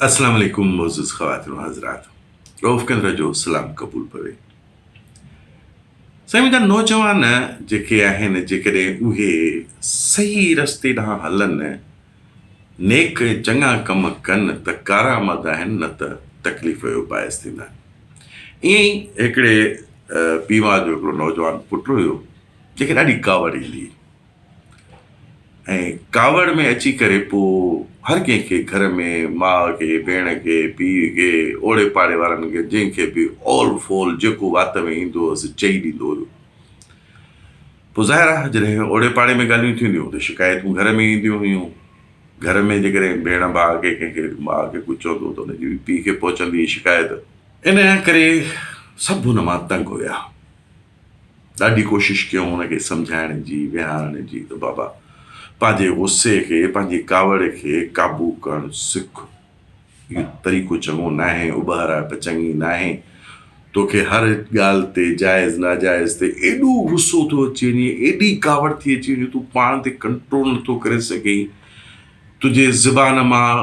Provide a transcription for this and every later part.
اسلام عليڪم معزز خواتين و حضرات روف ڪندر جو سلام قبول پوي سائين منهنجا نوجوان جيڪي آهن جيڪڏهن اهي صحيح رستي ڏانهن هلن نيڪ چڱا ڪم ڪن ته ڪارآمد آهن نه ته تڪليف جو باعث ٿيندا ائين ئي هڪڙي پيوا جو هڪڙو نوجوان پٽ هيو جيڪي ڏاڍي ڪاوڙيلي ۽ ڪاوڙ ۾ اچي ڪري پوء هر ڪنهن کي گهر ۾ ماء کي ڀيڻ کي پيء کي اوڙي پاڙي وارن کي جنهن کي به اول فول جيڪو وات ۾ ايندو هوس چئي ڏيندو هيو پوء ظاهر آهي جڏهن اوڙي پاڙي ۾ ڳالهيون ٿينديون هيون ته شڪايتون گهر ۾ اينديون هيون گهر ۾ جيڪڏهن ڀيڻ ڀاء کي ڪنهن کي ماء کي ڪجهه چوندو هو ته ان جي پيء کي پهچندي هئي شڪايت انهيء ڪري سڀ ان مان تنگ هيا. ڏاڍي ڪوشش ڪيائون هن کي سمجهائڻ جي، ويهارڻ جي ته بابا پنهنجي غصي کي، پنهنجي ڪاوڙ کي قابو ڪرڻ سک. اهو طريقو چڱو ناهي، اٻهرائپ چڱي ناهي. توکي هر ڳالهه تي جائز ناجائز تي ايڏو غصو ٿو اچي وڃي، ايڏي ڪاوڙ ٿي اچي وڃي جو تون پاڻ تي ڪنٽرول نٿو ڪري سگهين. تنهنجي زبان مان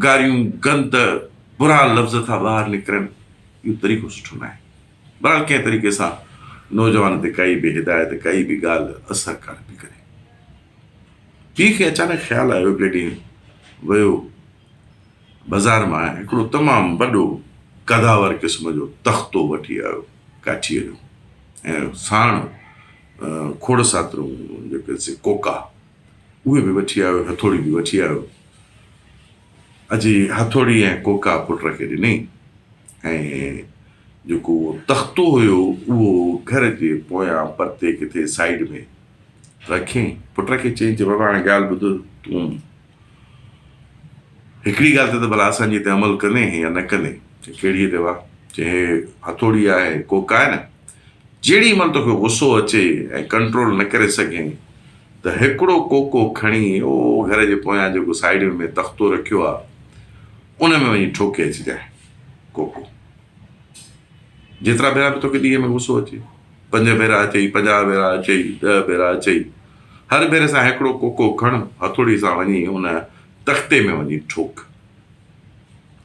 گاريون، گند، برا لفظ ٿا ٻاهر نڪرن. اهو طريقو سٺو ناهي. بھرحال ڪنھن طريقي سان نوجوان تي ڪائي به ھدايت ڪائي به ڳالھه اثر ڪانه پئي ڪري. پيء کي اچانڪ خيال آيو ھڪڙي ڏينھن ويو بازار مان ھڪڙو تمام وڏو قداور قسم جو تختو وٺي آيو ڪاٺيء جو ۽ ساڻ کوڙ ساترون جيڪي سي ڪوڪا اھي به وٺي آيو ھٿوڙي به وٺي آيو. اجي هٿوڙي ۽ ڪوڪا پٽ کي ڏني ۽ جيڪو تختو هيو اهو گهر جي پويان پرتي ڪٿي سائيڊ ۾ رکي پٽ کي چيائين ته بابا هاڻي ڳالهه ٻڌ تون هڪڙي ڳالهه تي ته ڀلا اسان جي تي عمل ڪندين يا نه ڪندين ڪهڙي تي وا چيائين هٿوڙي آهي ڪوڪا آهي نه جيڏي مھل توکي غصو اچي ۽ ڪنٽرول نه ڪري سگھين ته ھڪڙو ڪوڪو کڻي او گھر جي پويان جيڪو سائيڊ ۾ مين تختو رکيو آ ان ۾ وڃي ٺوڪي اچجانء ڪوڪو جيترا ڀيرا به توکي ڏينھن ۾ غصو اچي پنج ڀيرا اچئي پنجاھ ڀيرا اچئي ڏھ ڀيرا اچئي ھر ڀيري سان ھڪڙو ڪوڪو کڻ ھٿوڙي سان وڃي ان تختي ۾ وڃي ٺوڪ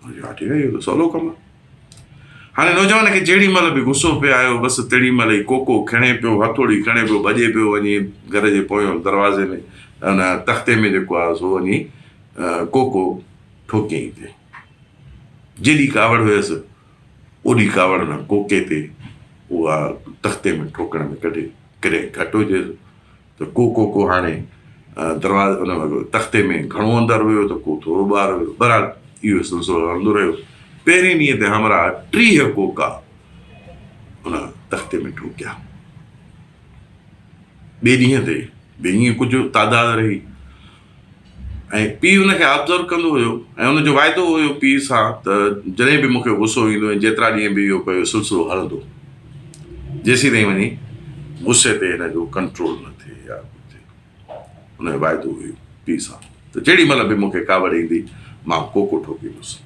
اھو چيو ھا ٺيڪ آ اھو ته سولو ڪم آ. هاڻي نوجوان کي جهڙي مهل به غصو پئي آيو، بس تهڙي مهل ئي ڪوڪو کڻي پيو، هٿوڙي کڻي پيو، ڀڄي پيو وڃي گهر جي پويون دروازي ۾ ان تختي ۾ جيڪو آهي سو وڃي ڪوڪو ٺوڪيائين تي. جيڏي ڪاوڙ هيس، اوڏي ڪاوڙ نه ڪوڪي تي اها تختي ۾ ٺوڪڻ ۾ ڪڍي، ڪڏهن گهٽ هجيس، ته ڪو ڪو ڪو هاڻي دروازي ان تختي ۾ گهڻو اندر هيو ته ڪو ٿورو ٻاهر هيو برحال اهو سلسلو هلندو رهيو پهرين ڏينهن تي همراهه ٽيهه ڪوڪا ان تختي ۾ ٺوڪيا ٻئي ڏينهن تي به ائين ڪجهه تعداد رهي ۽ پيء ان کي آبزرو ڪندو هيو ۽ ان جو واعدو هيو پيء سان ته جڏهن به مون کي غصو ايندو ۽ جيترا ڏينهن به اهو پيو سلسلو هلندو جيسين تائين وڃي غصي تي هن جو ڪنٽرول نه ٿئي يا ڪجهه ٿئي ان جو واعدو هيو پيء سان ته جيڏي مهل به مون کي ڪاوڙ ايندي مان ڪوڪو ٺوڪيندس.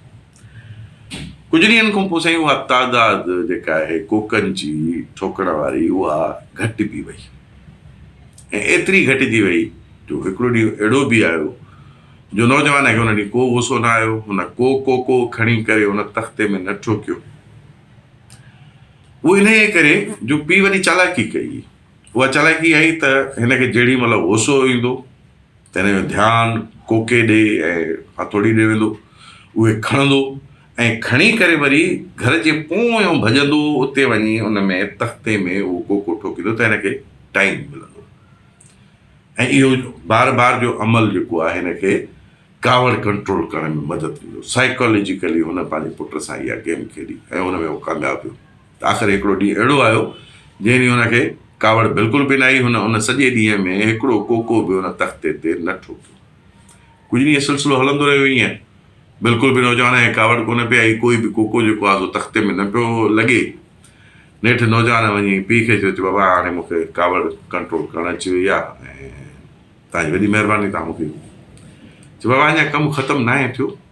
ڪجهه ڏينهن کان پوء سائين اها تعداد جيڪا آهي ڪوڪن جي ٺوڪڻ واري اها گهٽبي وئي ۽ ايتري گهٽجي وئي جو هڪڙو ڏينهن اهڙو به آيو جو نوجوان کي ان ڏينهن ڪو غصو نه آيو هن ڪو ڪوڪو کڻي ڪري ان تختي ۾ نه ٺوڪيو اهو انهي ڪري جو پي وڏي چالاڪي ڪئي اها چالاڪي آئي ته هن کي جهڙي مهل غصو ايندو تنهن جو ڌيان ڪوڪي ڏي ۽ هٿوڙي ڏي ويندو. اهي کڻندو ۽ کڻي ڪري وري گهر جي پويون ڀڄندو اتي وڃي ان ۾ تختي ۾ اهو ڪوڪو ٺوڪيندو ته هن کي ٽائيم ملندو ۽ اهو بار بار جو عمل جيڪو آهي هن کي ڪاوڙ ڪنٽرول ڪرڻ ۾ مدد ڏيندو. سائيڪالاجيڪلي هن پنهنجي پٽ سان اها گيم کيڏي ۽ ان ۾ هو ڪامياب ويو. آخر هڪڙو ڏينهن اهڙو آيو، جنهن ڏينهن هن کي ڪاوڙ بلڪل به نه آئي. هن ان سڄي ڏينهن ۾ هڪڙو ڪوڪو به ان تختي تي نه ٺوڪيو. ڪجهه ڏينهن سلسلو هلندو رهيو ائين. بلڪل به نوجوان کي ڪاوڙ ڪونه پئي آئي. ڪوئي به ڪوڪو جيڪو آهي سو تختي ۾ نه پيو لڳي. نيٺ نوجوان وڃي پيء کي چيو ته بابا هاڻي مون کي ڪاوڙ ڪنٽرول ڪرڻ اچي وئي آهي ۽ توهان جي وڏي مهرباني توهان مون کي چيو بابا اڃا ڪم ختم ناهي ٿيو.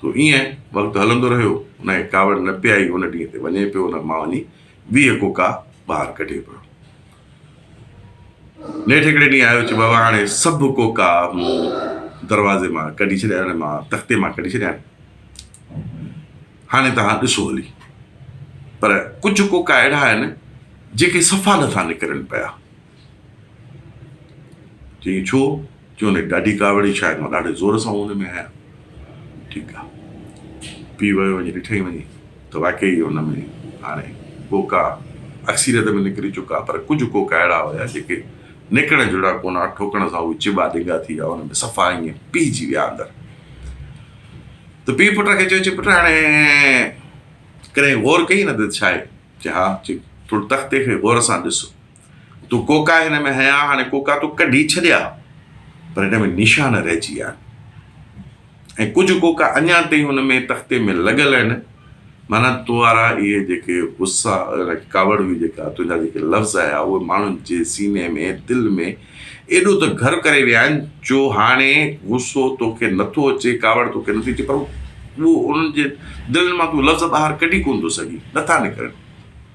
سو ايئن وقت هلندو رهيو. نه هي ڪاوڙ نه پيائي هن ڏينهن تي وڃي پيو نه مان وڃي ويهه ڪوڪا ٻاهر ڪڍي پيو. نيٺ هڪڙي ڏينهن آيو چي بابا هاڻي سڀ ڪوڪا مون دروازي مان ڪڍي ڇڏيا آهن مان تختي مان ڪڍي ڇڏيا آهن هاڻي توهان ڏسو هلي پر ڪجهه ڪوڪا اهڙا آهن جيڪي صفا نٿا نڪرن پيا. چيائين ڇو؟ چيو ني ڏاڍي ڪاوڙي شايد مان ڏاڍي زور سان ان ۾ آهيان. ٺيڪ آ. پيء ويو وڃي ڏٺئي وڃي ته واقعي ئي ان ۾ هاڻي ڪوڪا اڪثريت ۾ نڪري چڪا پر ڪجهه ڪوڪا اهڙا هيا جيڪي نڪرڻ جهڙا ڪونه ها ٺوڪڻ سان اهي چٻا ڊنگا ٿي ويا ان ۾ صفا ائين پيهجي ويا اندر ته پيء پٽ کي چيو چي پٽ هاڻي ڪڏهن غور ڪئي نه ته ڇا آهي؟ چي ها چي ٿورو تختي کي غور سان ڏس. تون ڪوڪا هن ۾ هنيا هاڻي ڪوڪا تو ڪڍي ڇڏيا پر هن ۾ نشان رهجي ويا آهن ۽ ڪجهه ڪوڪا اڃا تائين هن ۾ تختي ۾ لڳل آهن معنيٰ تو وارا اهي جيڪي غصا ڪاوڙ هئي جيڪا تنهنجا جيڪي لفظ آيا اهي ماڻهن جي سيني ۾ دل ۾ ايڏو ته گهر ڪري ويا آهن جو هاڻي غصو توکي نٿو اچي ڪاوڙ توکي نٿي اچي پر انهن جي دلن مان تون لفظ ٻاهر ڪڍي ڪونه ٿو سگهين نٿا نڪرن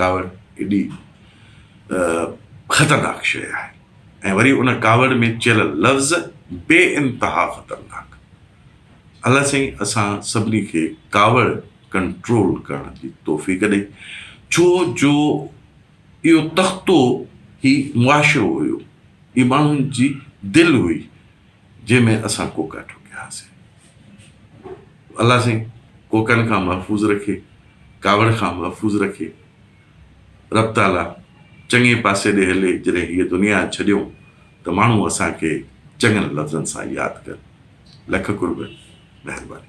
ڪاوڙ ايڏي خطرناڪ شيء آهي ۽ وري ان ڪاوڙ ۾ چيل لفظ بي انتها خطرناڪ. الله سائين اسان سڀني کي ڪاوڙ ڪنٽرول ڪرڻ جي توفيق ڏئي ڇو جو اهو تختو هي معاشرو هيو، هي ماڻهن جي دل هئي، جنهن ۾ اسان ڪوڪا ٺوڪيا هئاسين. الله سائين ڪوڪن کان محفوظ رکي، ڪاوڙ کان محفوظ رکي. رب تعاليٰ چڱي پاسي ڏي هلي، جڏهن هيء دنيا ڇڏيون ته ماڻهو اسان کي چڱن لفظن سان ياد ڪن. لک قرب، مهرباني.